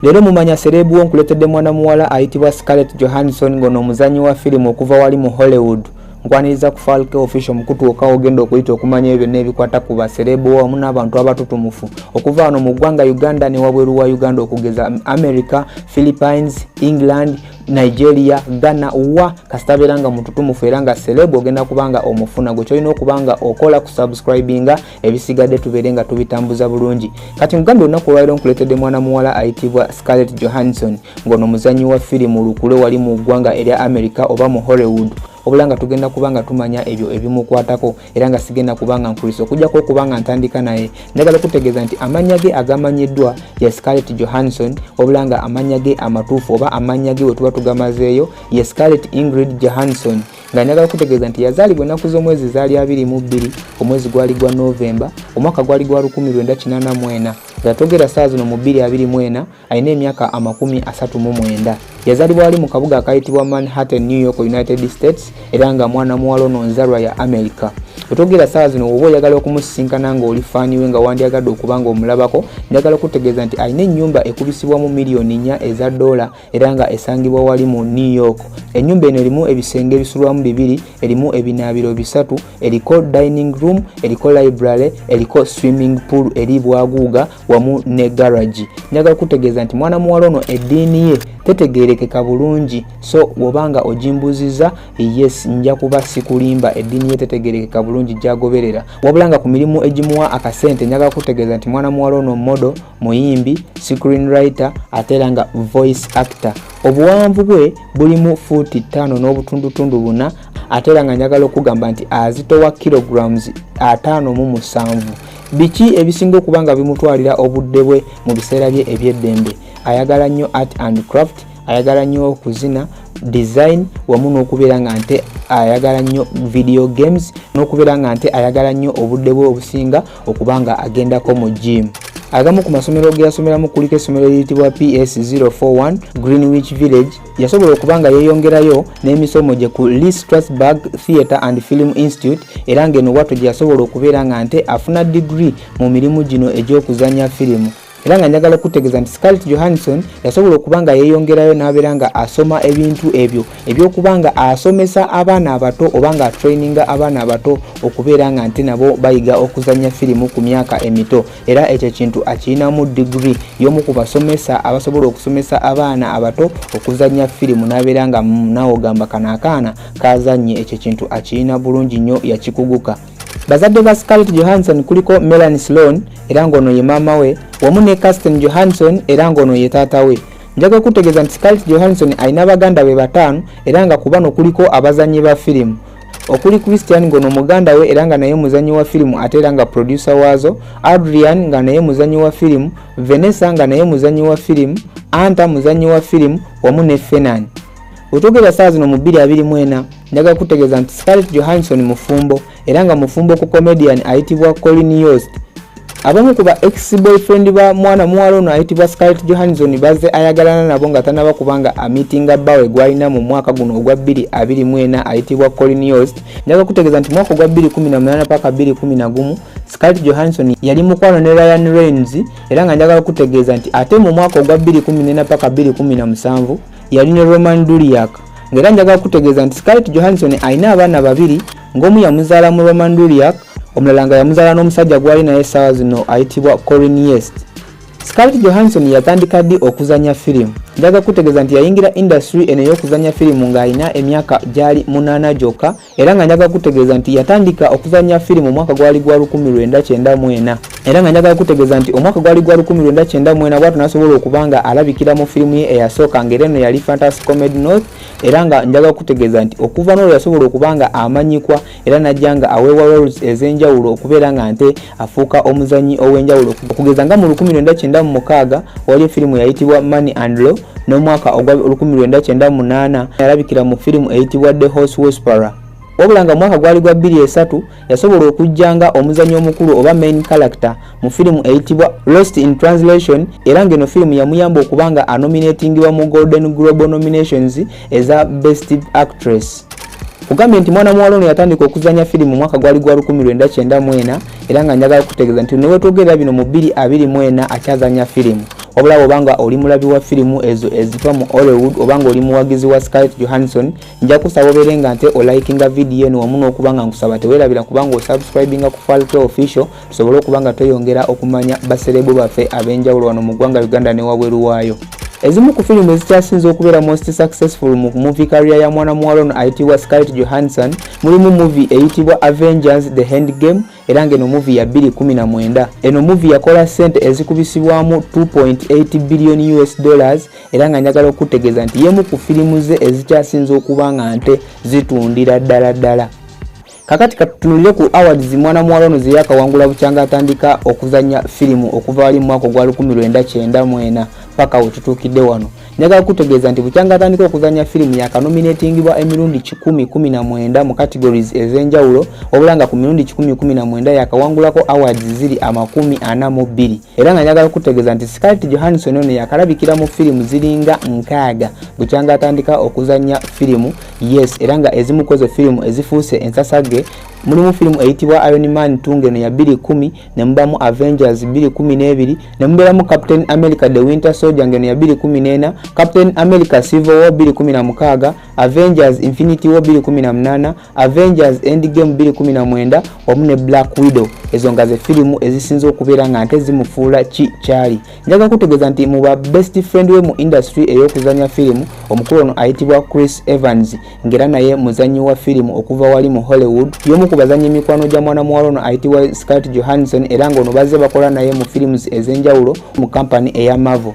Leero mumanya sereebu wo nkuleetedde mwana muwala ayitibwa Scarlett Johansson ng'ono omuzannyi wa firimu okuva wali mu Hollywood. Nkwaniriza ku Falke Official mukutuuka ogenda okuyita okumanya ebyo byonna ebikwata ku basereebu wamu n'abantu abatutumufu okuva wano mu ggwanga Uganda ne wabweru wa Uganda okugeza America, Philippines, England, Nigeria, Ghana wa kasita abeera nga mututumufu era nga sereebu ogenda kubanga omufuna gwe kyolina okubanga okola ku subscribinga ebisigadde tubeere nga tubitambuza bulungi kati nkugambye olunaku olwaliro nkuleetedde mwana muwala ayitibwa scarlett johansson ng'ono muzannyi wa firimu lukule wali mu ggwanga erya america oba mu hollywood obula nga tugenda kuba nga tumanya ebyo ebimukwatako era nga sigenda kuba nga nkulisa okujjako okuba nga ntandika naye njagala okutegeeza nti amannya ge agamanyiddwa ye scarlett johansson obula nga amannya ge amatuufu oba amannya ge we tuba tugamazeeyo ye scarlett ingrid johansson nga njagala kutegeeza nti yazaalibwa ennaku z'omwezi zaali abiri mu bbiri omwezi gwali gwa novemba omwaka gwali gwa 1984 nga togera saa zino mu 224 alina emyaka amakumi asatu mu mwenda yazaalibwa wali mu kabuga akayitibwa manhattan new york united states era nga mwana muwala ono nzalwa ya america otogera saa zino woba oyagala okumusisinkana nga oli faani we nga wandyagadde okuba nga omulabako njagala kutegeeza nti alina ennyumba ekubisibwamu miliyoni nnya eza doola era nga esangibwa wali mu new york enyumba eno erimu ebisenge ebisulwamu bibiri erimu ebinaabiro bisatu eriko dining room eriko library eriko swimming pool eri bwaguuga wamu ne garagi njaga kutegeeza nti mwana muwala ono eddiini ye tetegerekeka bulungi so wobanga ogimbuziza yes nja kuba sikulimba eddiini ye tetegerekeka bulungi gyagoberera wabula nga ku mirimu egimuwa akasente njaga kutegeeza nti mwana muwala ono modo muyimbi screen writer ate era nga voice actor obuwanvu bwe bulimu fuuti ttaano n'obutundutundu buna ate era nga njagala okugamba nti azitowa kilograms ataano mu musanvu biki ebisinga okuba nga bimutwalira obudde bwe mu biseera bye ebyeddembe ayagala nnyo art and craft ayagala nnyo okuzina design wamu n'okubeera nga nte ayagala nnyo video games n'okubeera nga nte ayagala nnyo obudde bwe obusinga okuba nga agendako mu jiimu agamu ku masomero ge yasomeramu kuliko essomero eriyitibwa ps 041 greenwich village yasobola okuba nga yeeyongerayo n'emisomo gye ku lee strasburg theatre and film institute era ng'eno watto gye yasobola okubeera nga nte afuna digiri mu mirimu gino egy'okuzanya firimu era nga njagala okutegeeza nti scarlett johansson yasobola okuba nga yeeyongerayo n'abeera nga asoma ebintu ebyo ebyokuba nga asomesa abaana abato oba nga atraininga abaana abato okubeera nga nti nabo bayiga okuzannya firimu ku myaka emito era ekyo ekintu akirinamu digiri y'omu ku basomesa abasobola okusomesa abaana abato okuzannya firimu n'abeera nga nawe ogamba kano akaana kazannye ekyo ekintu akirina bulungi nnyo yakikuguka Bazadde ba Scarlett Johansson kuliko Melanie Sloan era ng'ono ye maama we wamu ne Kirsten Johansson era ng'ono ye taata we. Njaga okutegeeza nti Scarlett Johansson alina baganda be bataano era nga ku bano kuliko abazannyi ba firimu okuli Christian ngono muganda we era nga naye muzanyi wa filimu ate era nga producer waazo, Adrian nga naye muzanyi wa filimu, Vanessa nga naye muzanyi wa filimu, Anta muzanyi wa filimu wamu ne Fenan. Wetwogera saa zino mu 2024 njagala kutegeeza nti Scarlett Johansson mufumbo era nga mufumbo ku comedian ayitibwa Colin Yost. Abamu ku ba ex boyfriend ba mwana muwala ono ayitibwa Scarlett Johansson bazze ayagalana nabo nga tanaba kubanga amitinga bbawe gwalina mu mwaka guno ogwa 2024 ayitibwa Colin Yost. Njagala kutegeeza nti mwaka ogwa 2018 paka 2011 Scarlett Johansson yali mukwano ne Ryan Reynolds era nga njagala kutegeeza nti ate mu mwaka ogwa 2014 paka 2017 yali ne Roman Duriak ng'era njagala kutegeeza nti Scarlett Johansson alina abaana babiri ng'omu yamuzaala mu Roman Duriak omulala nga yamuzaala n'omusajja gwali naye essaawa zino ayitibwa Corin Yest. Scarlett Johansson yatandika ddi okuzannya firimu? Njagala kutegeeza nti yayingira indasitule eno ey'okuzannya firimu ng'alina emyaka gyali munaana gyokka era nga njagala kutegeeza nti yatandika okuzannya firimu omwaka gwali gwa 1994 era nga njagala kutegeeza nti omwaka gwali gwa 1994 bwatu nasobola okuba nga alabikira mu firimu ye eyasooka ngaera eno yali fantasy comedy north era nga njagala kutegeeza nti okuva n'olwo yasobola okuba nga amanyikwa era najja nga aweewa roles ez'enjawulo okubeera nga nte afuuka omuzanyi ow'enjawulo okugeza nga mu 1996 waliyo firimu yayitibwa money and law n'omwaka ogwa 1998 yalabikira mu firimu eyitibwa the horse whisperer wabula nga mwaka gwali gwa 23 yasobola okujja nga omuzanyi omukulu oba main character mu firimu eyitibwa lost in translation era ng'eno firimu yamuyamba okuba nga anominatingibwa mu golden global nominations eza best actress kugambye nti mwana muwala ono yatandika okuzanya firimu mwaka gwali gwa 1994 era nga njagala kutegeeza nti newetwogerera bino mu 224 akyazanya firimu wabula bwoba nga oli mulabi wa firimu ezo eziva mu hollywood oba nga oli muwagizi wa scarlett johansson nja kusaba obeere nga nte olikinga vidiyo eno wamu n'okuba nga nkusaba tewerabira kubanga osubscribinga ku falke official tusobole okuba nga tweyongera okumanya baserebu baffe ab'enjawulo wano mu ggwanga uganda ne wabweru waayo ezimu ku firimu ezikyasinze okubeera most successful mu movie career ya mwana muwala ono ayitibwa scarlett johansson mulimu movie eyitibwa avengers the hand game era ng'eno movie ya 219 eno movie yakola sente ezikubisibwamu 2.8 billion us dollars era nga njagala okutegeeza nti yemu ku firimu ze ezikyasinze okuba nga nte zitundira ddala ddala Kakati katutunulire ku awards mwana muwala ono zeyakawangula bukyanga atandika okuzanya firimu okuva wali mu mwaka ogwa lukumi lwenda kyenda mwena paka wetutuukidde wano njagala kutegeeza nti bukyanga atandika okuzanya firimu yakanominatingibwa emirundi kikumi kumi na mwenda mu categories ez'enjawulo wabula nga ku mirundi kikumi kumi na mwenda yakawangulako awards ziri amakumi ana mu bbiri era nga njagala okutegeeza nti scarlett johansson ono yakalabikira mu firimu ziringa nkaaga bukyanga atandika okuzanya firimu yes era nga ezimu kwezo firimu ezifuuse ensasage mulimu firimu eyitibwa iron man 2 ngeno ya 210 nemubamu avengers 212 nemubeeramu captain america the winter soldier ngeno ya 214 captain america civil war 216 avengers infinity war 218 avengers endgame 219 wamu ne black widow ezo nga ze firimu ezisinza okubeera nga nte zimufuula ki kyali njaga kutegeeza nti mu ba best friend we mu industry ey'okuzanya firimu omukulu ono ayitibwa chris evans ng'era naye muzanyi wa firimu okuva wali mu hollywood y'omu ku bazanyi emikwano gya mwana muwala ono ayitibwa scart johanson era ng'ono bazze bakola naye mu firimu ez'enjawulo mu kampani eya marvel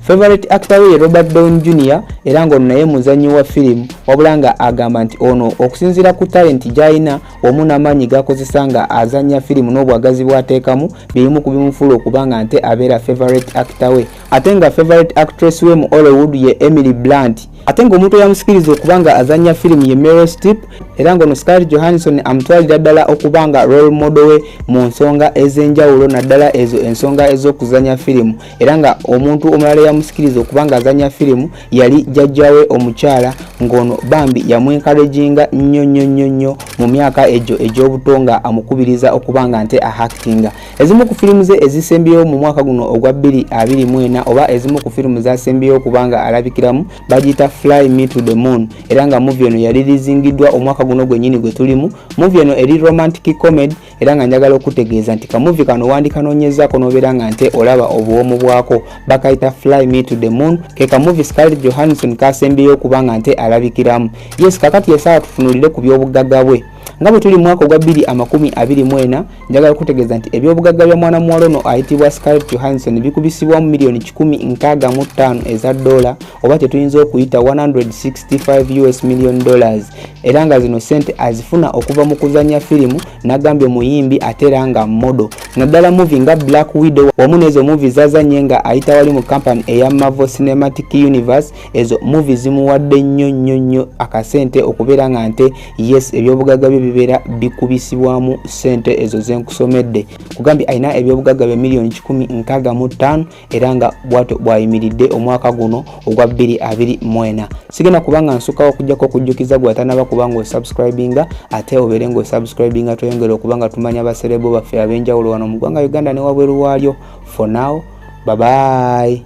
Favorite actor we ye Robert Downey Jr era ng'ono naye muzannyi wa firimu wabula nga agamba nti ono okusinziira ku talenti gy'alina wamu n'amaanyi g'akozesa nga azannya firimu n'obwagazi bw'ateekamu byebimu ku bimufuula okuba nga nte abeera favorite actor we ate nga favorite actress we mu Hollywood ye Emily Blunt ate ng'omuntu eyamusikiriza okuba nga azannya firimu ye Meryl Streep era ng'ono Scarlett Johansson amutwalira ddala okuba nga role model we mu nsonga ez'enjawulo naddala ezo ensonga ez'okuzannya firimu era nga omuntu omulala eyamusikiriza okuba nga azanya firimu yali jajjawe omukyala ng'ono bambi yamwenkalejinga nnyo nnyo nnyo nnyo mu myaka egyo egy'obuto nga amukubiriza okuba nga nte ahakitinga ezimu ku firimu ze ezisembyewo mu mwaka guno ogwa 224 oba ezimu ku firimu zasembyewo okuba nga alabikiramu bagiyita fly me to the moon era nga muvi eno yali lizingiddwa omwaka guno gwennyini gwe tulimu muvi eno eri romantic comedy era nga njagala okutegeeza nti kamuvi kano wandikanonyezako nobeera nga nte olaba obuwomu bwako bakayita fly me to the moon ke kamuvi scarlett johanson kasembyeyo okuba nga nte alabikiramu yes kakati yesaawa tufunulire ku byobuggaga bwe nga bwe tuli mwaka ogwa 2 amakumi 24 njagala okutegeeza nti ebyobugagga bya mwana muwala ono ayitibwa scarlett johanson bikubisibwamu miliyoni 165 eza dola oba kyetuyinza okuyita 165 us million dollars era nga zino sente azifuna okuva mu kuzanya firimu nagambye muyimbi ate era nga modo naddala muvi nga black widow wamu nezo muvi zazanye nga ayita wali mu kampani eya mavo cinematic universe ezo muvi zimuwadde nnyo nnyo nnyo akasente okubeera nga nte yes ebyobugaga bye bibeera bikubisibwamu sente ezo zenkusomedde kugambye alina ebyobugaga bye miliyoni 1 nkaga mu ttaano era nga bwatyo bwayimiridde omwaka guno ogwa 224 sigenda kubanga nsukawo okujjako okujjukiza gwe atanaba kuba nga osubscribinga ate obeere nga osubscribinga tweyongere okuba nga tumanya baserebo baffe ab'enjawulo wano mu ggwanga uganda ne wabweru waalyo for now babayi